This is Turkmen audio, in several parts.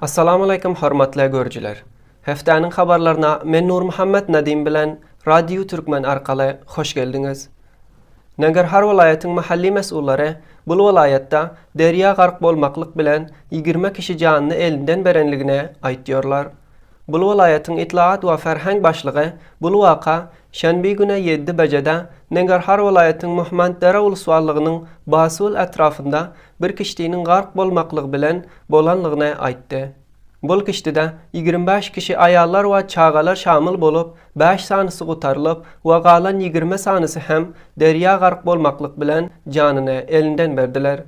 Assalamualeýkum hormatly görüjiler. Hepdäniň habarlaryna men Nurmuhammet Nadim bilen Radio Türkmen arkaly hoş geldiňiz. Nangarhar welaýatyň mahalli mes'ullary bul welaýatda derýa gark bolmaklyk bilen ýigirme kişi janyny elinden berenligine aýtýarlar. Bul welaýatyň Itlaat we ferheng başlygy bul waka şenbi güne ýedi bejede Nengarhar welaýatyň Muhmanddere ulswallygynyň Basul etrafynda bir kişdiniň gark bolmaklygy bilen bolanlygyny aýtdy. Bul kişdide ýigrimi bäş kişi aýallar we çagalar şamyl bolup, bäş sanysy gutarylyp we galan ýigrimi sanysy hem derýa gark bolmaklyk bilen janyny elinden berdiler.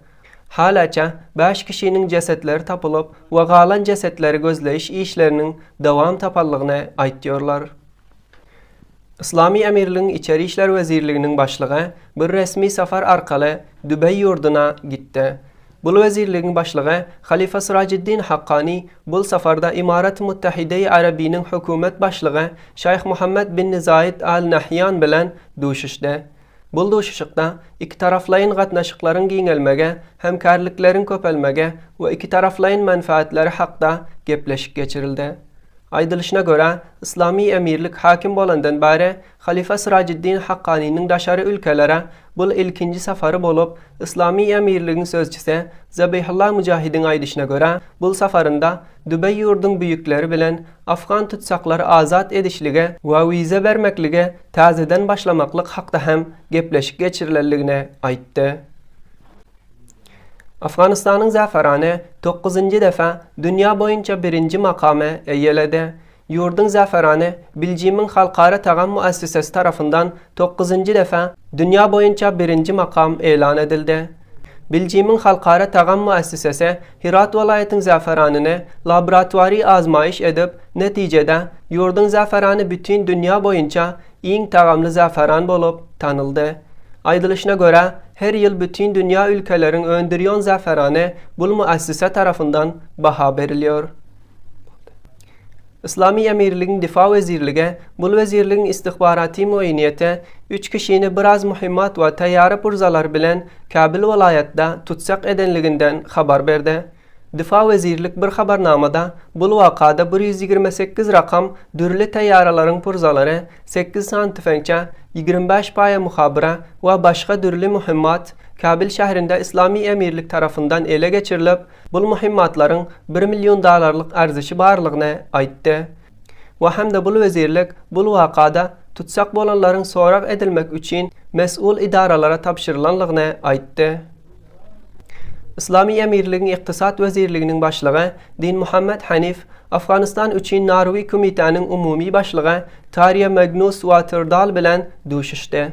Halaça, bäş kişiniň jesetleri tapylyp we galan jesetleri gözleýiş işleriniň dowam tapanlygyny aýtýarlar. Yslamy Emirligiň Içeri işler wezirliginiň başlygy bir resmi sapar arkaly Dubaý ýurduna gitdi. Bul wezirligiň başlygy halyfa Surajiddin Hakkani bul saparda Imarat-y Muttahide-i Arabiniň hökümet başlygy Şaýh Muhammed bin Zaýed Al Nahýan bilen duşuşdy. Bu duşuşykda ikitaraflaýyn gatnaşyklaryň giňelmegi, hemkärlikleriň köpelmegi we ikitaraflaýyn menfaatlary hakda gepleşik geçirildi. Aýdylyşyna görä, Yslamy Emirlik hakim bolandan bäri halyfa Syrajiddin Hakkanynyň daşary ülkelere bul ilkinji sapary bolup, Yslamy Emirligiň sözçüsi Zabihullah Mujahidiň aýdyşyna görä, bul saparynda dübä ýurduň büýükleri bilen afgan tutsaklary azat edişligi we wiza bermekligi täzeden başlamaklyk hakda hem gepleşik geçirilendigini aýtdy. Afganystanyň Zafarani dokuzynjy defa dünýä boýunça birinji makamy eýeledi. Ýurduň Zafarani Biljimiň halkara tagam müessisesi tarapyndan dokuzynjy defa dünýä boýunça birinji makam elan edildi. Beljimiň halkara tagam müessisesi Hyrat welaýatyň zäferanyny laboratoriýa azmaýyş edip, netijede, ýurduň zäferany bütin dünýä boýunça iň tagamly zäferan bolup tanyldy. Aýdylyşyna görä, her ýyl bütin dünýä ülkeleriň öndürýän zäferany bul müessise tarapyndan baha berilýär. Yslamy emirligiň Difa wezirlige, bul wezirligiň istihbaraty mueýniýete üç kişini biraz mühimmat we teýýara purzalar bilen Kabul welaýatda tutsag edenliginden habar berdi. Difa wezirlik bir habarnamada bul wakada bir ýüz ýigrimi sekiz rakam dürli teýýaralaryň purzalary, sekiz sany tüfeňçe, ýigrimi bäş paýa muhabyra we başga dürli mühimmat Kabul şäherinde Yslamy emirlik tarapyndan ele geçirilip, Bul muhimmatlaryň bir million dollarlyk arzişi barlygyny aýtdy we hem-de bul wezirlik bul wakada tutsag bolanlaryň sorag edilmek üçin mes'ul idaralara tabşyrylanlygyny aýtdy. Yslamy Emirligiň Ykdysat wezirliginiň başlygy Dinmuhammet Hanif Afganistan üçin Narwi kumitäniň umumy başlygy Tarýa Magnus Waterdal bilen duşuşdy.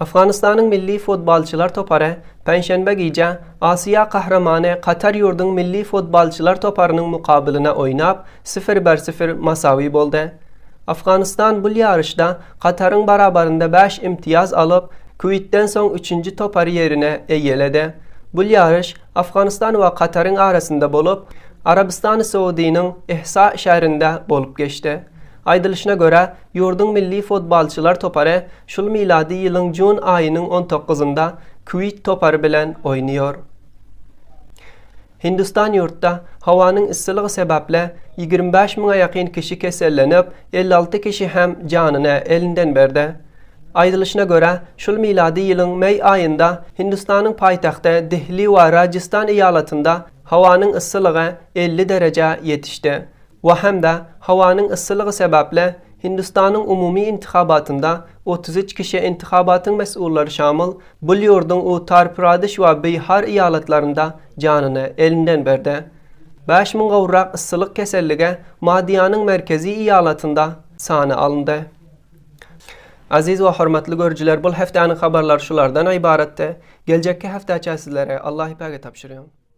Afganystanyň milli futbolçylar topary penşenbe gije Aziýa gahrymany Katar ýurduň milli futbolçylar toparynyň mukabylyna oýnap, sifir bir sifir masawy boldy. Afganystan bul ýaryşda Kataryň barabarynda bäş imtiýaz alyp, Kuweýtden soň üçünji topary ýerine eýeledi. Bul ýaryş Afganystan we Kataryň arasynda bolup, Arabystany Saudiniň Ehsa şäherinde bolup geçdi. Aýdylyşyna görä, ýurduň milli fotbalçylar topary şul milady ýylyň jun aýynyň on toguzynda Kuweýt topary bilen oýnaýar. Hindistan ýurtda howanyň yssylygy sebäpli ýigrimi bäş müňe ýakyn kişi kesellenip, elli alty kişi hem janyny elinden berdi. Aýdylyşyna görä, şul milady ýylyň meý aýynda Hindistanyň paýtagty Dehli we Rajistan eýalatynda howanyň yssylygy elli derejä ýetişdi. we hem-de howanyň yssylygy sebäpli Hindistanyň umumy intihabatynda otuz üç kişi intihabatyň mes'ullary şamyl bul ýurduň Uttar Pradeş we Bihar eýalatlarynda janyny elinden berdi. Bäş müň gowrak yssylyk keselligi Madiýanyň merkezi eýalatynda sana alyndy. Aziz we hormatly görüjiler bul hefdäniň habarlary şulardan ybaratdy. Geljekki heftäçä sizleri Allahypäge tabşyrýan.